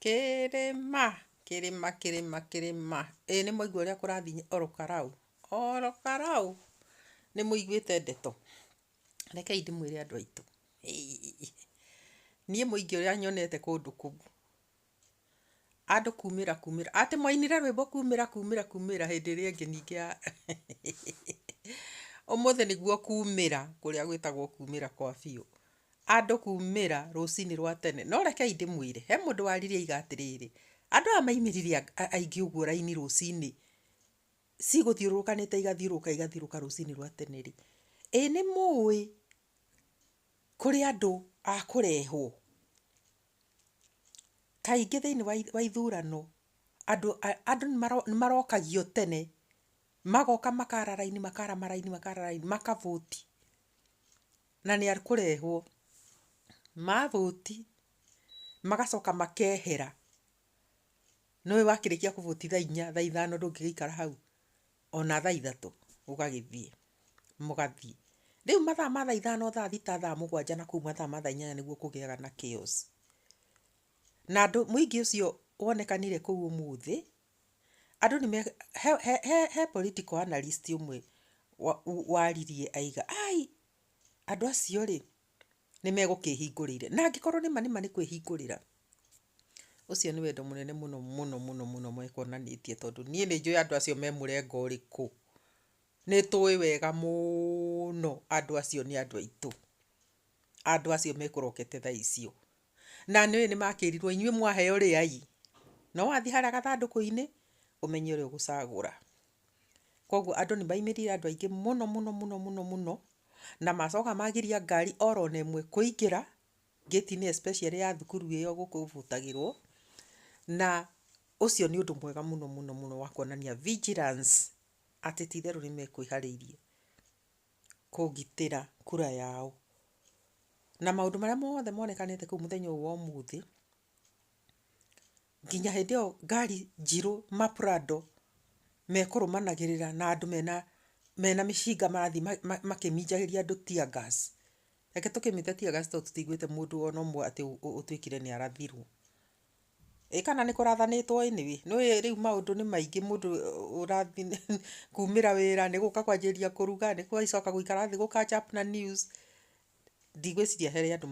Kĩrĩma, kĩrĩma, kĩrĩma, kĩrĩma, ĩ nĩmwaigua ũrĩa kũrathiĩ Ol Karau? Ol Karau, nĩmũiguĩte ndeto? Rekei ndĩmwĩre andũ aitũ, niĩ mũingĩ ũrĩa nyonete kũndũ kũu, andũ kumĩra kumĩra, atĩ mwainire rwĩmbo kumĩra kumĩra kumĩra hĩndĩ ĩrĩa ĩngĩ ningĩ ya ũmũthĩ nĩguo kumĩra kũrĩa gwĩtagwo kumĩra kwa biũ. andũ kuumĩra rũcinĩ rwa tene. No rekei ndĩmwĩre, he mũndũ waririe aiga atĩrĩrĩ, Andũ aya maimĩrire aingĩ ũguo raini rũcinĩ, cigũthiũrũrũkanĩte igathiũrũrũka igathiũrũrũka rũcinĩ rwa tene-rĩ, ĩ nĩ mũũĩ kũrĩ andũ a kũrehwo? Kaingĩ thĩinĩ wa ithurano, andũ nĩ marokagio tene, magoka makara raini makara maraini makara raini maka vote. na nĩ akũrehwo, mavũti magacoka makehera, nĩũĩ wakĩrĩkia kũvũti thaa inya thaa ithano ndũngĩgĩikara hau ona thaa ithatũ ũgagĩthiĩ mũgathiĩ, rĩu mathaa ma thaa ithano thaa thita thaa mũgwanja na kũu mathaa ma thaa inyanya nĩguo kũgĩaga na chaos na mũingĩ ũcio wonekanire kũu ũmũthĩ. Andũ nĩ me, he, he, he, he political analyst ũmwe wa- u- waririe aiga, ai, andũ acio rĩ, nĩ megũkĩhingũrĩire. Na angĩkorwo nĩma nĩma nĩ kwĩhingũrĩra, ũcio nĩ wendo mũnene mũno mũno mũno mũno mekuonanĩtie tondũ niĩ nĩ njũĩ andũ acio me mũrengo ũrĩkũ. Nĩ tũĩ wega mũno andũ acio nĩ andũ aitũ. Andũ acio mekũrokete thaa icio. Na nĩũĩ nĩmakĩrirwo, inyuĩ mwaheo rĩai. No wathiĩ harĩa gathandũkũ-inĩ, ũmenye ũrĩa ũgũcagũra. Koguo andũ nĩmaimirire andũ aingĩ mũno mũno mũno mũno mũno, na macoka magiria ngari oro na ĩmwe kũingĩra, ngĩti-inĩ especially ya thukuru ĩyo gũkũ Butagĩrwo, na ũcio nĩ ũndũ mwega mũno mũno mũno wa kuonania vigilance atĩ ti itherũ nĩmekwĩharĩirie. kũgitĩra kura yao. Na maũndũ marĩa mothe monekanĩte kũu mũthenya ũyũ wa ũmũthĩ, nginya hĩndĩ ĩyo ngari njirũ ma prado mekũrũmanagĩrĩra na andũ mena mena mĩcinga marathiĩ makĩminjagĩria andũ tear gas. Reke tũkĩmĩte tear gas tondũ tũtiguĩte mũndũ ona ũmwe atĩ ũtuĩkire nĩ arathirwo. Ĩĩ kana nĩ kũrathanĩtwo ĩnĩ wĩ, nĩ ũĩ rĩu maũndũ nĩ maingĩ mũndũ ũrathi kumĩra wĩra nĩ gũka kwanjĩrĩria kũruga, nĩ gũgĩcoka gũikara thĩ gũ catch up na news. Ndigwĩciria harĩ andũ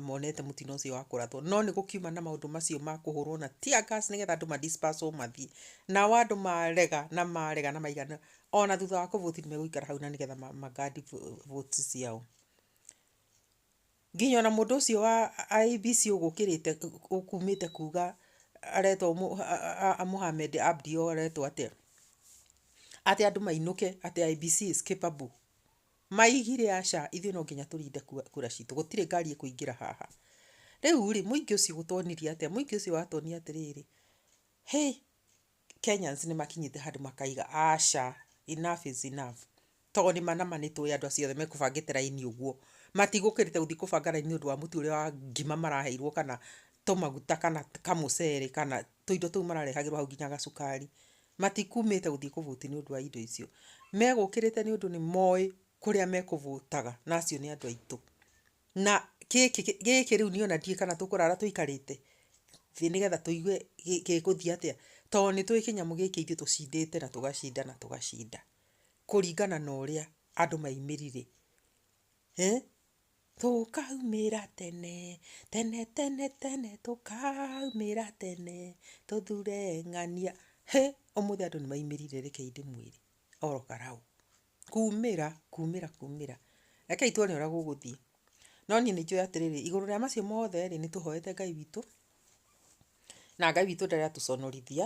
monete mũtino ũcio wa kũrathwo, no nĩ gũkiuma na maũndũ macio ma kũhũrwo na tear gas nĩgetha andũ ma disperse wo mathiĩ. Nao andũ marega na marega na maigana ona thutha wa kũ vote nĩ megũikara hau na nĩgetha ma guard votes ciao. Nginya ona mũndũ ũcio wa IEBC ũgũkĩrĩte ũkumĩte kuga aretwo Mohamed Abdi ũyũ aretwo atĩa, atĩ andũ mainũke atĩ IEBC is capable. Maugire aca ithuĩ no nginya tũrinde kura citũ, gũtirĩ ngari ĩkũingĩra haha. Rĩu rĩ, mũingĩ ũcio ũtonirie atĩa? Mũingĩ ũcio watwonia atĩrĩrĩ, hĩ! Kenyans nĩ makinyĩte handũ makaiga aca enough is enough. Tondũ nĩ mana ma nĩ tũĩ andũ acio othe mekũbangĩte raini ũguo. Matigũkĩrĩte gũthiĩ kũbanga raini nĩ ũndũ wa mũtu ũrĩa wa ngima maraheirwo kana tũmaguta kana kamũcere kana tũindo tũu mararehagĩrwo hau nginya gacukari. Matikumĩte gũthiĩ kũ vote nĩ ũndũ wa indo icio. Megũkĩrĩte nĩ ũndũ nĩ moĩ kũrĩa mekũ vote aga na acio nĩ andũ aitũ. Na gĩkĩ gĩkĩ rĩu niĩ ona ndiũĩ kana tũkũrara tũikarĩte thĩ nĩgetha tũigue gĩ gĩgũthiĩ atĩa, to nĩtũĩ kĩnyamũ gĩkĩ ithuĩ tũcindĩte na tũgacinda na tũgacinda, kũringana na ũrĩa andũ maimirire, eeh, tũkaumĩra tene, tene tene tene, tũkaumĩra tene, tũthure ng'ania, hĩ, ũmũthĩ andũ nĩmaimirire rekei ndĩmwĩre oro karaũ. Kuumĩra, kuumĩra, kuumĩra. Rekei tuone ũrĩa gũgũthiĩ. No niĩ nĩ njũĩ atĩrĩrĩ, igũrũ rĩa macio mothe rĩ, nĩ tũhoete Ngai witũ, na Ngai witũ ndaratũconorithia,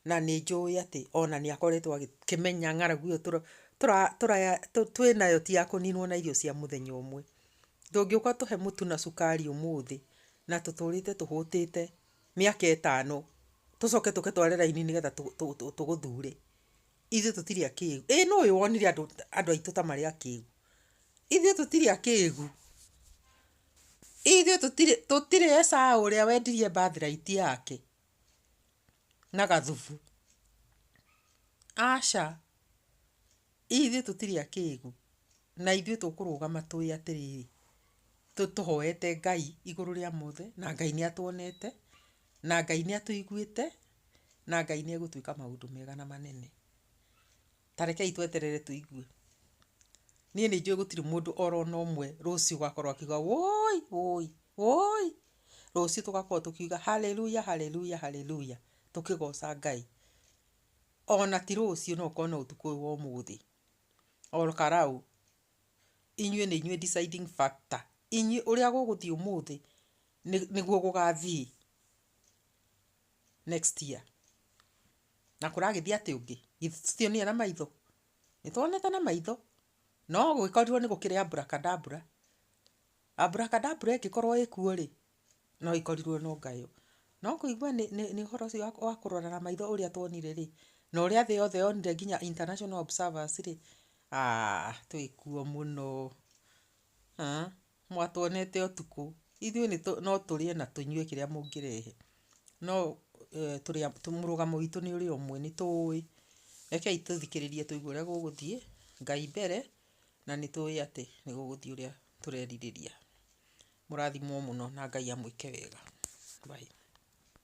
na nĩ njũĩ atĩ ona nĩ akoretwo agĩkĩmenya ng'aragu ĩyo twĩ nayo ti ya kũninwo na irio cia mũthenya ũmwe. Ndũngĩũka ũtũhe mũtu na cukari ũmũthĩ, na tũtũrĩte tũhũtĩte mĩaka ĩtano, tũcoke tũke tware raini nĩgetha tũgũthure. Ithuĩ tũtirĩ akĩgu. Ĩĩ nũũĩ wonire andũ andũ aitũ ta marĩ akĩgu? Ithuĩ tũtirĩ akĩgu. Ithuĩ tũtirĩ tũtirĩ Esau ũrĩa wendirie birthright yake na gathubu. Aca. Ithuĩ tũtirĩ akĩgu. Na ithuĩ tũkũrũgama tũĩ atĩrĩrĩ, tũhoete Ngai igũrũ rĩa mothe, na Ngai nĩ atuonete, na Ngai nĩ atũiguĩte. na Ngai nĩ egũtwĩka maũndũ mega na manene. Ta rekei tweterere tũigue. Niĩ nĩ njũĩ gũtirĩ mũndũ oro na ũmwe rũciũ ũgakorwo akiuga wũi wũi wũi. Rũciũ tũgakorwo tũkiuga Hallelujah Hallelujah Hallelujah tũkĩgoca Ngai. Ona ti rũciũ no ũkorwo no ũtukũ ũyũ wa ũmũthĩ. Oro karau. Inyuĩ nĩ inyuĩ deciding factor. Inyuĩ ũrĩa gũgũthiĩ ũmũthĩ nĩguo gũgathiĩ. next year. Na kũragĩthiĩ atĩa ũngĩ? Githĩ tũtionire na maitho? Nĩ tuonete na maitho. No gũgĩkorirwo nĩ gũkĩrĩ abracadabra. Abracadabra ĩngĩkorwo ĩkuo rĩ, no ĩkorirwo no ngayo. No kũigua nĩ nĩ nĩ ũhoro ũcio wa kũrora na maitho ũrĩa tuonire rĩ, na ũrĩa thĩ yothe yonire nginya international observers rĩ, twĩkuo mũno. mwatwonete ũtukũ, ithuĩ nĩ no tũrĩe na tũnyue kĩrĩa mũngĩrehe, no mũrũgamo witũ nĩ ũrĩa ũmwe, nĩ tũũĩ, rekei tũthikĩrĩrie tũigue ũrĩa gũgũthiĩ, Ngai mbere, na nĩ tũũĩ atĩ nĩ gũgũthiĩ ũrĩa tũrerirĩria. Mũrathimwo mũno na Ngai amwĩke wega. Bye.